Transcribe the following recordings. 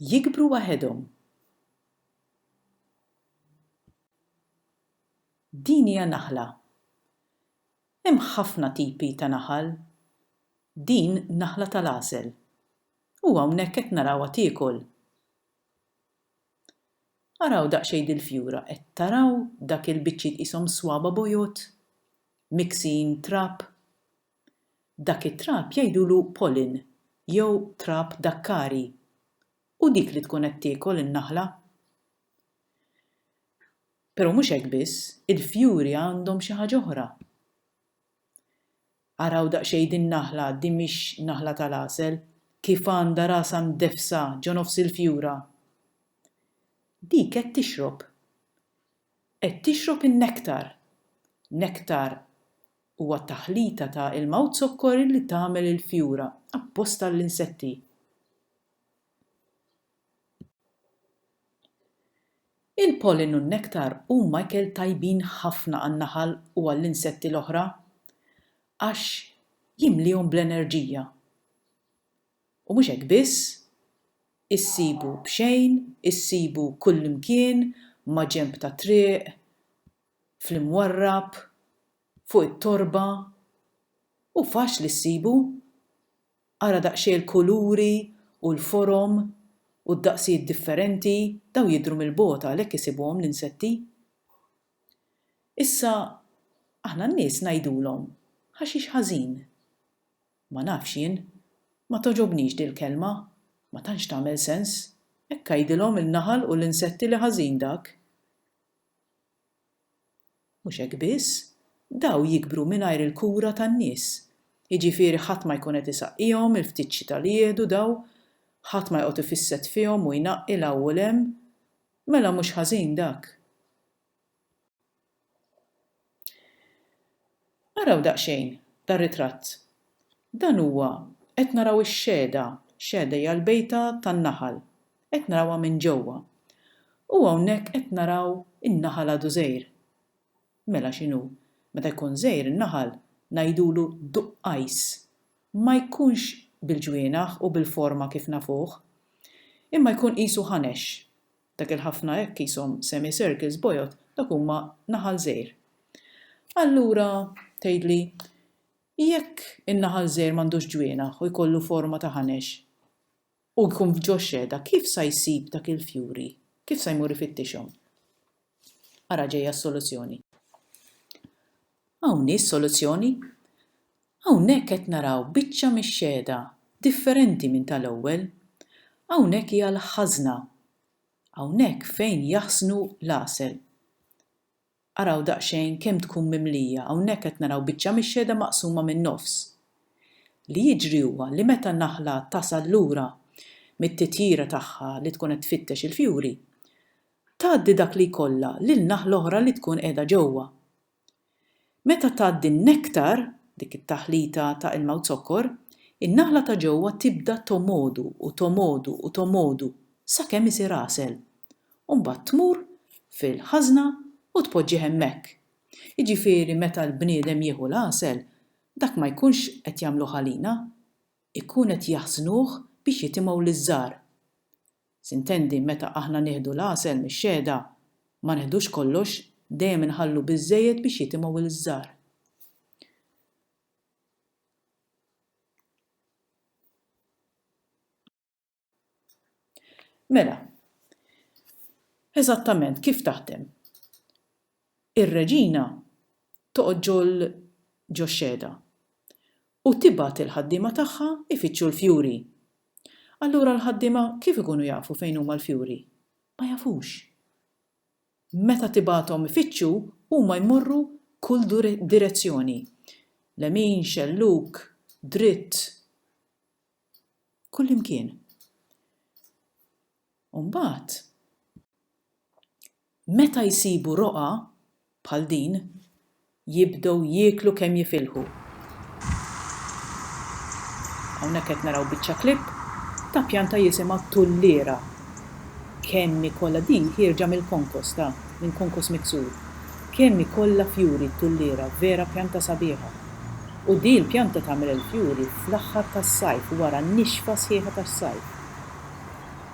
Jikbru waħedhom. Din hija naħla. Hemm ħafna tipi ta' naħal. Din naħla tal-għasel. U hawnhekk qed narawha tiekol. Araw daqsxejn dil-fjura, qed taraw dak il-biċċiet qishom swaba' bojod? Miksin trab? Dak it-trab jgħidulu pollen jew trab dakkari. U dik li tkun qed tiekol in-naħla. Pero' mhux hekk biss, il-fjuri għandhom xi ħaġa oħra. Araw daqsxejn din-naħla, din mhix naħla tal-għasel, kif għandha rasha mdeffsa ġo nofs il-fjura. Dik qed tixrob. Qed tixrob in-nektar. Nektar Huwa taħlita ta' ilma u zokkor illi tagħmel il-fjura, apposta għall-insetti. Il-pollen u n-nektar huma ikel tajbin ħafna għan-naħal u għall-insetti l-oħra għax jimliehom bl-enerġija. U mhux hekk biss, issibu b'xejn, issibu kullimkien, maġenb tat-triq, fl-imwarrab, fuq it-torba, hu faċli ssibu. Ara daqsxejn il-kuluri u l-forom u d-daqsijiet differenti, dawn jidhru mill-bogħod għalhekk isibuhom l-insetti. Issa, aħna n-nies ngħidulhom ħaxix ħażin. Ma nafx jien, ma togħġobnix dil-kelma, ma tantx tagħmel sens, hekk għidilhom il-naħal u l-insetti li ħażin dak. Mhux hekk biss, dawn jikbru mingħajr il-kura tan-nies. Jiġifieri ħadd ma jkun qed isaqqihom il-ftit xita li jieħdu dawn, ħadd ma joqgħod ifisset fihom u jnaqqi 'l hawn u 'l hemm. Mela mhux ħażin dak. Araw daqsxejn dar-ritratt. Dan huwa, qed naraw ix-Xehda, Xehda hija l-bejta tan-naħal, qed narawha minn ġewwa. U hawnhekk qed naraw in-naħal għadu żgħir. Mela x'inhu? Meta jkun żgħir in-naħal ngħidulu duqqajs. Ma jkunx bil-ġwienaħ u bil-forma kif nafuh. Imma jkun qisu ħanex. Dak il-ħafna hekk qishom semi circles bojod dak huma naħal żgħir. Allura, tgħidli, jekk in-naħal żgħir m'għandux ġwienaħ u jkollu forma ta' ħanex u jkun f'ġoxxeda kif sa jsib dak il-fjuri, kif sa jmur ifittixhom? Ara ġejja s-soluzzjoni. Hawn hi s-soluzzjoni. Hawnhekk qed naraw biċċa mix-xehda differenti minn tal-ewwel. Hawnhekk hija l-ħażna. Hawnhekk fejn jaħsnu l-għasel. Araw daqsxejn kemm tkun mimlija, hawnhekk qed naraw biċċa mix-xehda maqsuma min-nofs. Li jiġri huwa li meta n-naħla tasal lura mit-titjira tagħha li tkun qed tfittex il-fjuri, Tgħaddi dak li jkollha lin-naħla oħra li tkun qiegħda ġewwa. Meta tgħaddi n-nektar, dik it-taħlita ta' ilma u zokkor, in-naħla ta' ġewwa tibda tomodu u tomodu u tomodu sakemm isir għasel. U mbagħad tmur fil-ħażna u tpoġġih hemmhekk. Jiġifieri meta l-bniedem jieħu l-għasel, dak ma jkunx qed jagħmluh għalina, ikun qed jaħżnuh biex jitimgħu liż-żgħar. Sintendi, meta aħna nieħdu l-għasel mix-xehda, ma neħdux kollox, dejjem inħallu biżżejjed biex jitimgħu il-zzar. Mela, eżattament kif taħdem? Ir-reġina toqgħod ġol ġox-xehda u tibgħat il-ħaddiema tagħha jfittxu l-fjuri. Allura l-ħaddiema kif ikunu jafu fejn huma l-fjuri? Ma jafux. Meta tibgħathom ifittxu huma jmorru kull direzzjoni, lemin, xellug, dritt, kullimkien. u mbagħad meta jsibu roqgħa bħal din jibdew jieklu kemm jifilħu. Hawnhekk qed naraw biċċa clip ta' pjanta jisimha tulliera. Kemm ikollha di ħierġa mill-konkos ta' minn konkos miksur. Kemm ikollha fjuri t-tulliera, vera pjanta sabiħa. U di l-pjanta tagħmel il-fjuri fl-aħħar tas-sajf wara n-nixfa sħiħa tas-sajf.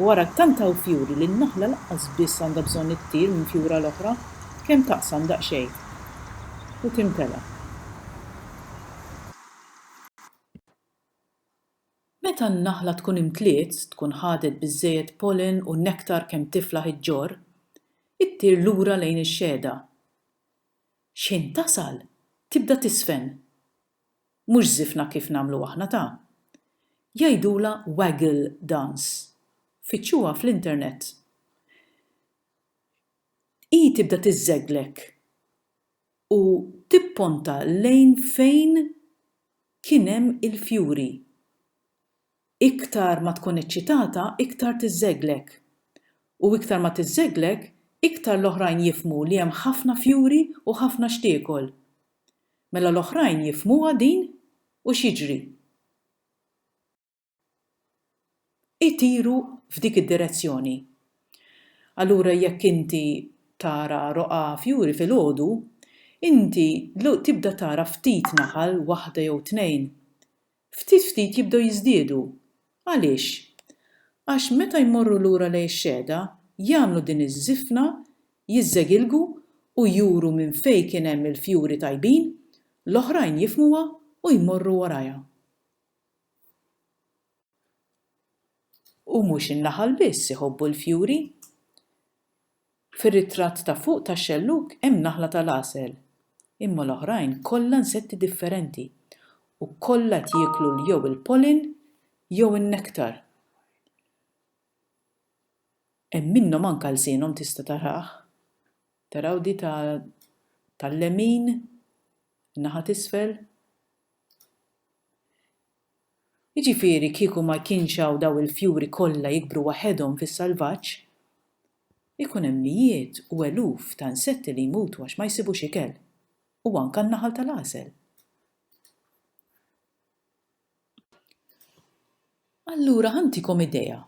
U ara tant hawn fjuri li n-naħla lanqas biss għandha bżonn ittir minn fjura l-oħra, kemm taqsam daqsxejn u timtela. Meta n-naħla tkun imtliet, tkun ħadet biżżejjed pollen u nektar kemm tiflaħ iġġorr, ittir lura lejn ix-xehda. X'ħin tasal, tibda tiżfen. Mhux żifna kif nagħmlu aħna ta. Jgħidulha waggle dance. Fittxuha fl-internet. Hi tibda tiżżegglek u tipponta lejn fejn kien hemm il-fjuri. Iktar ma tkun eċċitata, iktar tiżżegglek. U iktar ma tiżżegglek, iktar l-oħrajn jifhmu li hemm ħafna fjuri u ħafna x'tiekol. Mela l-oħrajn jifhmuha din u x'jiġri? Itiru f'dik id-direzzjoni. Allura jekk inti tara roqgħa fjuri filgħodu, inti tibda tara ftit naħal, waħda jew tnejn. ftit ftit jibdew jiżdiedu. Għaliex? Għax meta jmorru lura lejn ix-xehda, jagħmlu din iż-żifna, jiżżegilgu u juru minn fejn kien hemm il-fjuri tajbin, l-oħrajn jifhmuha u jmorru warajha. U mhux in-naħal biss iħobbu l-fjuri. Fir-ritratt ta' fuq tax-xellug hemm naħla tal-għasel, imma l-oħrajn kollha insetti differenti u kollha qed jieklu jew il-pollen jew in-nektar. Hemm minnhom anke lsienhom tista' tarah, taraw di ta' tal-lemin, in-naħa t'isfel. Jiġifieri kieku ma jkienx hawn dawn il-fjuri kollha jikbru waħedhom fis-salvaġġ, ikun hemm mijiet u eluf ta' insetti li jmutu għax ma jsibux ikel, u anke n-naħal tal-għasel. Allura ħa ntikom idea.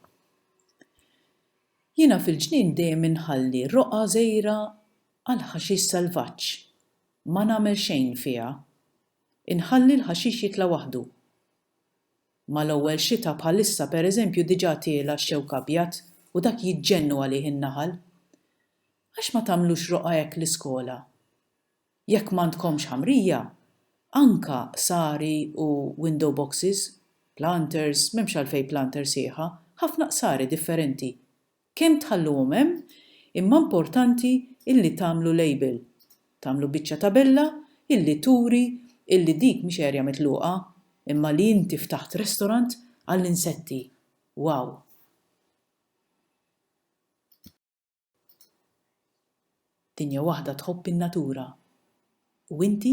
Jiena fil-ġnien dejjem inħalli roqgħa żgħira għall-ħaxix salvaġġ, ma nagħmel xejn fiha. Inħalli l-ħaxix jitla' waħdu. Mal-ewwel xita bħalissa pereżempju diġà tiela' x-xewk abjad u dak jiġġennu għalih in-naħal. Għax ma tagħmlux roqgħa hekk l-iskola? Jekk m'għandkomx ħamrija, anka qsari u window boxes, planters, m'hemmx għalfejn planter sieħa, ħafna qsari differenti. Kemm tħalluhom hemm, imma importanti illi tagħmlu label, tagħmlu biċċa tabella illi turi illi dik mhix area mitluqa imma li inti ftaħt restaurant għall-insetti. Wow! Dinja waħda tħobb in-natura. U inti?